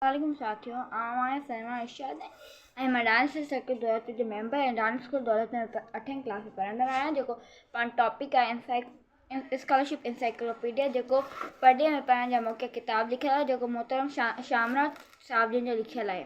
وعليڪم ساٿيو آئون آهيان سلميٰ ارشاد ۽ مان ڊانس جي سرڪل دولت جو ميمبر ۽ ڊانس اسڪول دولت ۾ اٺين ڪلاس ۾ پڙهندڙ آهيان جيڪو پاڻ ٽاپڪ آهي انسائڪ اسڪالرشپ انسائڪلوپيڊيا جيڪو پڙهي ۾ پڙهڻ جا موقعا ڪتاب لکيل آهي جيڪو محترم شا شامراج صاحب جن جو لکيل آهي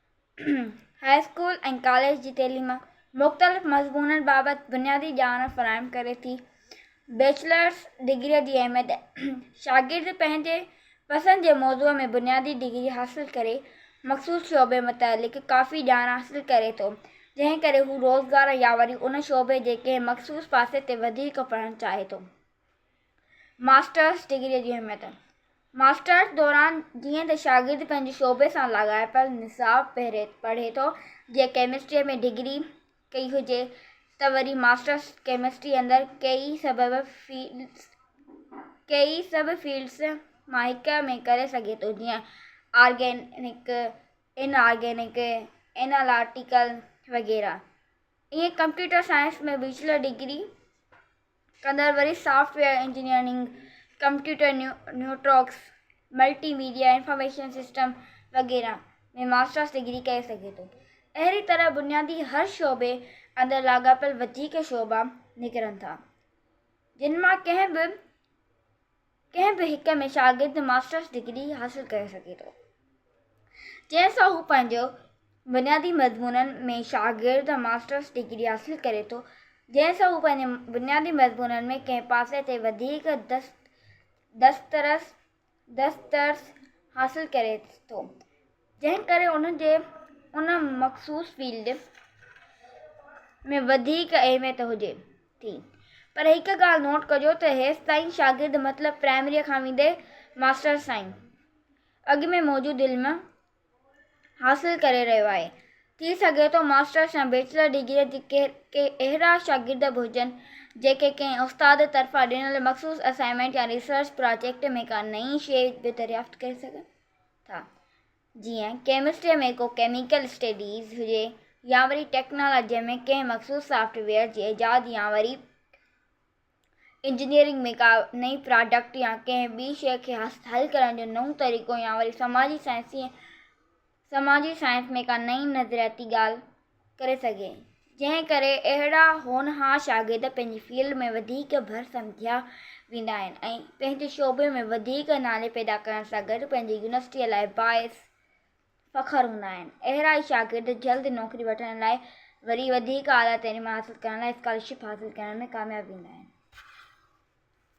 هاء اسڪول ۽ ڪاليج جي تعليم مختلف مضمونن بابت بنيادي ڄاڻ فراهم ڪري ٿي. بيچلرس ڊگريء جي اهميت، شاگرد پنهنجي پسند جي موضوع ۾ بنيادي ڊگري حاصل ڪري مخصوص شعبي متعلق ڪافي ڄاڻ حاصل ڪري ٿو، جنهن ڪري هو روزگار يا وري ان شعبي جي ڪنهن مخصوص پاسي تي وڌيڪ پڙهڻ چاهي ٿو. ماسٽرس ڊگريء جي اهميت، ماسٽرس دوران جيئن ته شاگرد پنهنجي شعبي سان لاڳاپيل نصاب پڙهي ٿو، جي ڪيمسٽريء ۾ ڊگري ڪئي هجي ته وري ماسٽرس ڪيمسٽريء اندر ڪيئي سب فيلڊس مان هڪ ۾ ڪري سگهي ٿو، جيئن آرگينڪ، ان آرگينڪ، اينالاٽيڪل وغيره. ائين ڪمپيوٽر سائنس ۾ بيچلر ڊگري. ڪندڙ وري software engineering, computer networks, multimedia information system وغيره ۾ ماسٽرس ڊگري ڪري سگهي ٿو. اهڙي طرح بنيادي هر شعبي اندر لاڳاپيل وڌيڪ شعبا نڪرن ٿا جن مان ڪنهن به ڪنهن به هڪ ۾ شاگرد ماسٽرس ڊگري حاصل ڪري سگهي ٿو جنهن سان هو پنهنجو بنيادي مضمونن ۾ شاگرد ماسٽرس ڊگري حاصل ڪري ٿو جنهن سان هو پنهنجي بنيادي مضمونن ۾ ڪنهن پاسي تي وڌيڪ دست دسترس دسترس حاصل ڪري ٿو جنهن ڪري انهن جي ان مخصوص فيلڊ ۾ وڌيڪ اهميت هجي ٿي پر هڪ ڳالهه نوٽ ڪجو ته هيستائين شاگرد مطلب پرائمريء کان ويندي ماسٽرس تائين اڳ ۾ موجود علم حاصل ڪري رهيو آهي ٿي سگهي ٿو ماسٽرس يا بيچلر ڊگريء جي ڪي اهڙا شاگرد به هجن جيڪي ڪنهن استاد طرفان ڏنل مخصوص اسائنمينٽ يا ريسرچ پراجيڪٽ ۾ ڪا نئين شيء به دريافت ڪري سگهن ٿا جيئن ڪيمسٽري ۾ ڪو ڪيميڪل اسٽيڊيز هجي يا وري ٽيڪنالاجي ۾ ڪنهن مخصوص سافٽ ويئر جي ايجاد يا وري انجنيئرنگ ۾ ڪا نئين پراڊڪٽ يا ڪنهن ٻي شيء کي حل ڪرڻ جو نئون طريقو يا وري سماجي سائنس سماجي سائنس ۾ ڪا نئين نظرياتي ڳالهه ڪري سگهي، جنهن ڪري اهڙا هونهار شاگرد پنهنجي فيلڊ ۾ وڌيڪ ڀر سمجهيا ويندا آهن ۽ پنهنجي شعبي ۾ وڌيڪ نالي پيدا ڪرڻ سان گڏ پنهنجي يونيورسٽيء لاء باعث فخر هوندا آهن. اهڙا ئي شاگرد جلد نوڪري وٺڻ لاء وري وڌيڪ اعليٰ تعليم حاصل ڪرڻ لاء اسڪالرشپ حاصل ڪرڻ ۾ ڪامياب ويندا آهن.